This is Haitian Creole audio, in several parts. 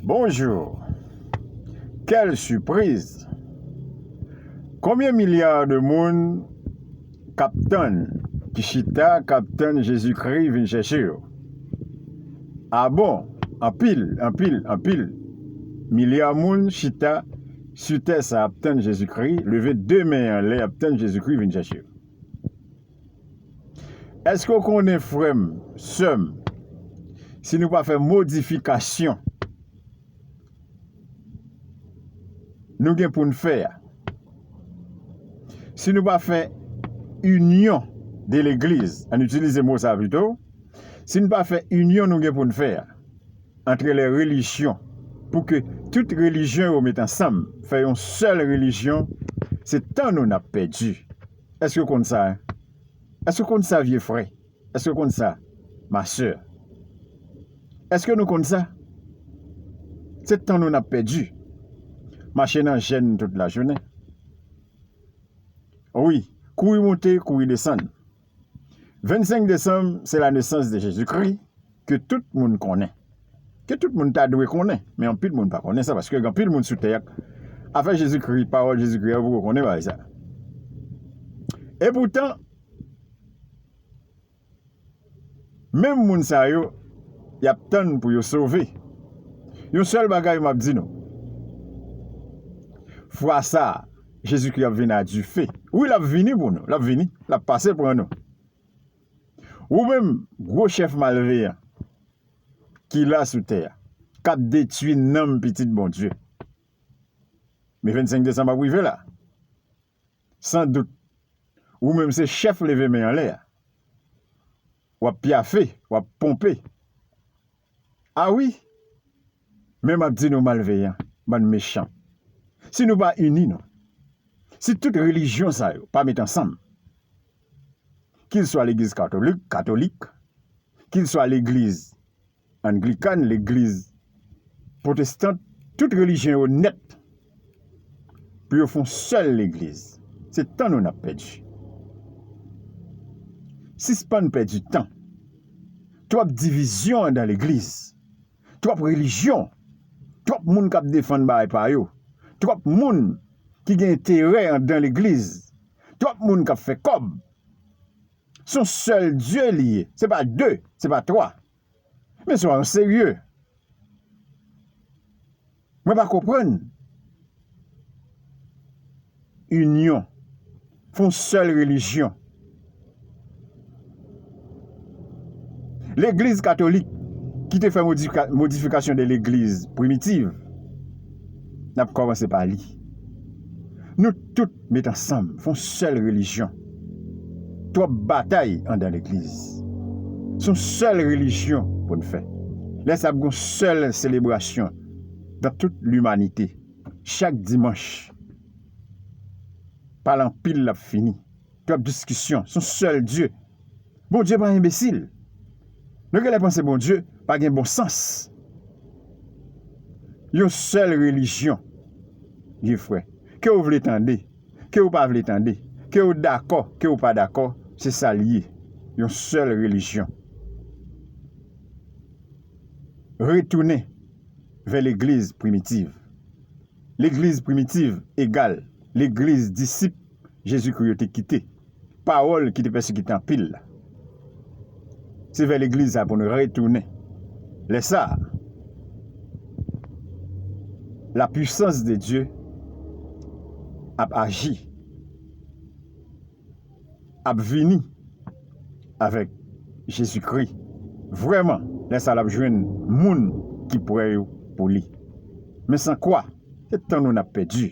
Bonjour! Quel surprise! Konbyen milliards de moun kap tann, ki chita kap tann Jezi Kri vin chèche yo? Ah bon! Anpil, anpil, anpil milliards moun chita su tè sa ap tann Jezi Kri, leve 2 men anlè ap tann Jezi Kri vin chèche yo. Eske ou konnen frè m, sè m, si nou pa fè modifikasyon nou gen pou n fè a, si nou pa fè inyon de legliz, an n itilize mo sa pito, si nou pa fè inyon nou gen pou n fè a antre lè relijyon pou ke tout relijyon yo met ansanm fè yon sèl relijyon, se tan nou n ap pèdi. Èske w konn sa? Èske w konn sa, vye frè? Èske w konn sa, ma sè? Èske nou konn sa? Se tan nou n ap pèdi, mache nan jèn tout lajounen. Wi, kouri monte, kouri desann. 25 desanm, se lanesans de Jezikri. ke tout moun konnen, ke tout moun ta dwe konnen, men anpil moun pa konnen sa, paske gen anpil moun sou tè a, afè Jezikri, pawòl Jezikri a, yo poko konnen bagay sa. E poutan, menm moun sa yo, y ap tann pou yo sove. Yon sèl bagay m ap di nou, fwa sa a, Jezikri ap vini a dife. Wi, l ap vini pou nou, l ap vini, l ap pase pran nou. Ou menm gwo chèf malveyan ki la sou tè a, k ap detui nanm pitit Bondye. Men 25 desanm ap rive la. San dout, ou menm se chèf leve men anlè a. W ap pyafe, w ap ponpe. A wi! Men m ap di nou malveyan, bann mechan, si nou pa ini nou, si tout relijyon sa yo pa met ansanm, kil swa legliz katolik, katolik, kil swa legliz anglikan, legliz pwotestant, tout relijyon yo nèt, pou yo fon sèl legliz se tan nou nap pèdi sispann pèdi tan twòp divizyon andan legliz twòp relijyon twòp moun kap defann bagay pa yo twòp moun ki gen enterè andan legliz twòp moun kap fè kòb son sèl Dye li ye se pa 2 se pa 3. Mesye wa nou serye. Mwen pa konprann. Inyon. Fon sèl relijyon. Legliz katolik ki te fè modifikasyon de legliz primitiv. N ap kòmanse pa li. Nou tout. Met ansanm fon sèl relijyon. Twòp batay andan legliz. Son sèl relijyon pou n fè. Lè sa ap gon sèl selebrasyon dan tout limanite. Chak dimanch pale anpil lap fini. Twòp diskisyon son sèl Dye. Bondye pa enbesil. Nou genlè panse Bondye pa gen bon sans. Yon sèl relijyon gen frè. Ke ou vle tande, ke ou pa vle tande, ke ou dakò, ke ou pa dakò, se sa l ye. Yon sèl relijyon. Retounen vè legliz primitiv. Legliz primitiv egal legliz disip. Jezikri yo te kite, pawòl ki te pèsekite anpil la. Se vè legliz sa a pou nou retounen. Lè sa a, lapuisans de Dye ap aji, ap vini avèk Jezikri. Vrèman, lè sa a l ap jwenn moun ki pre yo pou li. Men san kwa, se tan nou n ap pèdi.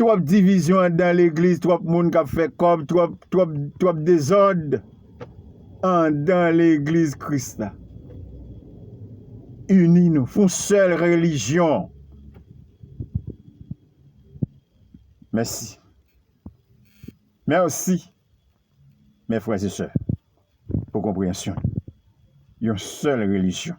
Twòp divizyon anndan legliz twòp moun kap fè kòb twòp dezòd anndan legliz kris la uni nou fon sèl relijyon mèsi mèsi mè frè se sè pou konpreyansyon yon sèl relijyon.